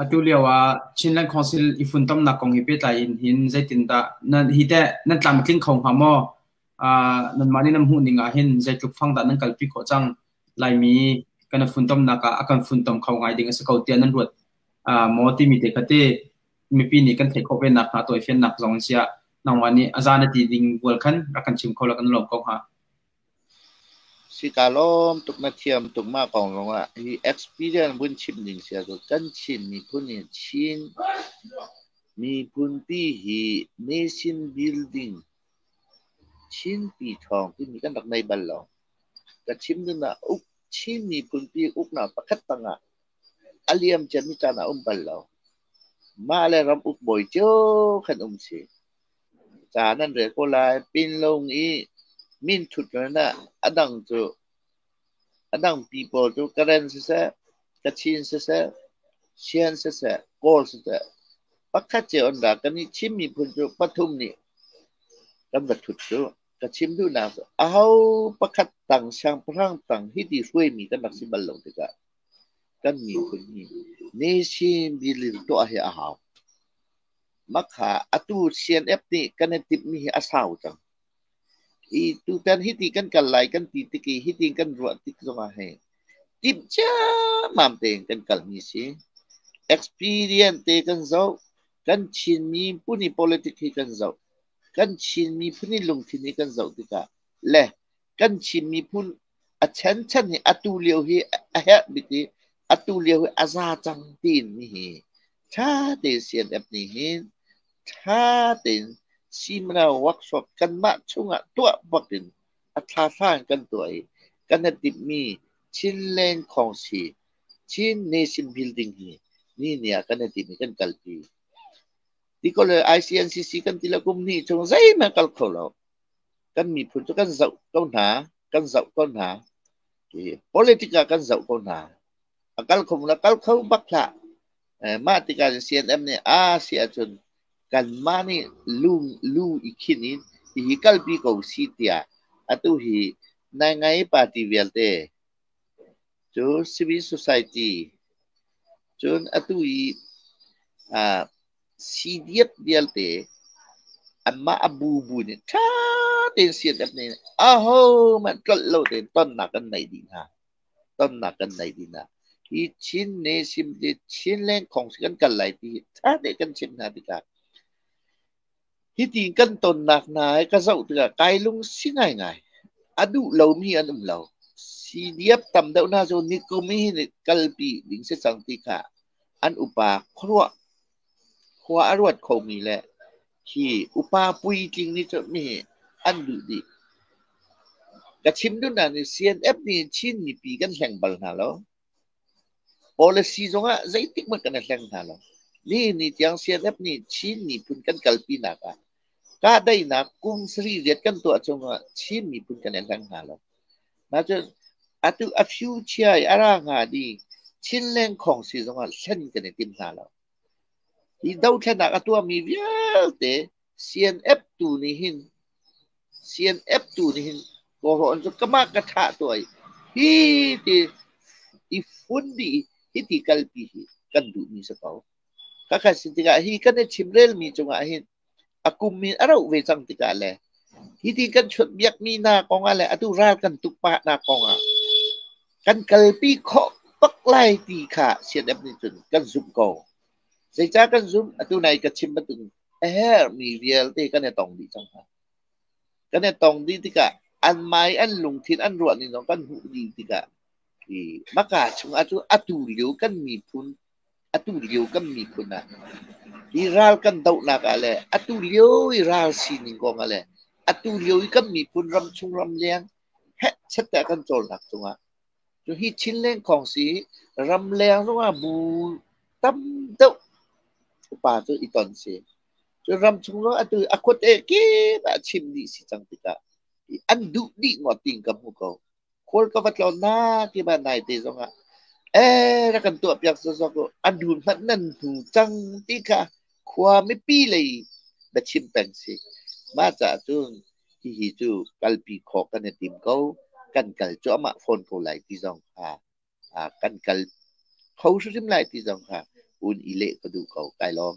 Atu lio ah Chinland Council i funtomnak kong he pehtlai in hin zeitindah nan hi teh nan tlamtling kho hnga maw? Aa nanmah nih nan hmuh ning ah hin zeitluk fang dah nan kalpi khawh cang? Laimi kan funtomnak ah a kan funtom kho ngai ding a si ko tiah nan ruat aa maw timi te kha ti mipi nih kan theih khawh ve nakhnga tawifiannak zong in siah nangmah nih a za na ti ding bual khan rak kan chim kho la kan lawm ko hnga. Sika lawm tuk na thiam tuk mah kong zongah hi experience vun chim ding si ahcun kan Chin miphun hi Chin miphunpi hi nation building Chinpi thawng timi kan rak nei bal lo. Ka chim ding ah uk Chin miphunpi uknak pakhat tangah a liam ciami caan a um bal lo. Mah le ram ukbawi cio kan um si. Ca nan rel ko lai. Pinlung i minthut nunah a dang cu a dangpi pawl cu Karen siseh, Kachin siseh, Sian siseh, Kawl siseh pakhat cio an ra. Kan i thim miphun cu pathum nih kan va thut cu. Ka chim duhnak cu aho pakhat tang siangpahrang tang hiti hruaimi kan rak si bal lo tikah kan miphun hi Nation building tuah hi a hau. Makha atu CNF nih kan i timhmi hi a sau cang. I tutan hi ti kan kal lai kan ti tik i hi ti kan ruah tik zongah hi timh ciammam tein kan kalmi si. Experience te kan zoh, kan Chinmi phun i politic hi kan zoh, kan Chinmi phun i lungthin hi kan zoh tikah le kan Chin miphun a chenchan hi atu lio hi a herh bik i atu lio hi a za cang tiin mi hi tha te CNF nih hin tha tein Simna workshop kanmah chungah tuah bakin a thlathla in kan tuah i kan ha timhmi Chinland Council Chin Nation Building hi ni ni ah kan ha timh i kan kalpi ti ko le ICNCC kan ti le kum hnih chung zeihmanh kal kho lo kan miphun cu kan zoh ko hna, kan zoh ko hna. Hi politic ah kan zoh ko hna. A kal kho la kal kho bak hlah. Eh, mah tikah CNM nih a si ahcun kanmah nih lu lu i khin in hihi kalpi ko si tiah atu hi Naingai party vialte cu civil society cun atu i uh, Sii diat vialte anmah a bubu nih ṭha tein sii an nih aho hmanh tlolh lo tein tonnak kan nei dih hna. Tonnak kan nei dih hna. Hi Chin ne sim ti Chin lengkhong si kan kal lai ti ṭha tein kan chimh hna tikah hitin kan tonnak hna hi ka zoh tikah kai lung si ngai ngai. A duh lomi an um lo. Sii diap tam deuh hna cu nikum hi kalpi ding si cang ti kha an upa khuaruah khua a ruat khomi le hi upa puitling nih cun mihi an duh dih. Ka chim duh hna nih CNF nih Chin mipi kan hleng bal hna lo. Policy zongah zeitik hmanh kan i hleng hna lo. Nihin ni tiang CNF nih Chin miphun kan kalpinak ah Kahdaihnak kum sari riat kan tuah chungah Chin miphun kan i hleng hna lo. Nacun atu a few chia i a ra hnga ni Chinleng khong si zongah hlen kan i tim hna lo. Hi dothlennak a tuahmi vialte CNF tu nih hin CNF tu nih hin kawhrawn cu kamah ka thah tuah i hi ti i fun dih i hiti kalpi hi kan duhmi si ko. ka khat si tikah hi kan i chim relmi cungah hin a kum hin a roh ve cang tikah le hi ti kan chut biak mi hna kongah le atu ral kan tuk pa hna kongah kan kalpi khawh bak lai ti kha sian ep nih cun kan zumh ko zeica kan zumh atu nai ka chim batung a her mi vialte kan e tong dih cang hna kan e tong dih tikah an mai an lungthin an ruah ni zong kan hmuh dih tikah i maka chung atu atu liu kan mi phun Atu lio kan miphun ah i ral kan dohnak ah le atu lio i ral sining kong ah le atu lio i kan miphun ram chung ram leng hetchette a kan cawlnak cungah cu hi Chinleng khong si ramleng zongah bu tam deuh upa cu i ton si. Cu ram chung zong atu a khuate kip ah chim dih si cang tikah an duh dih ngawt ting ka hmu ko. khual ka va tlo na tima naite zongah ee rak kan tuah piak sawsawk u a nu hmanh nan hnu cang ti kha khua mipi lei na chim peng si mah caah cun hihi cu kalpi khawk kan i tim ko kan kal cuahmah fawn ko lai ti zong kha ah, kan kal kho hrimhrim lai ti zong kha un i leh ka duh ko kai lawm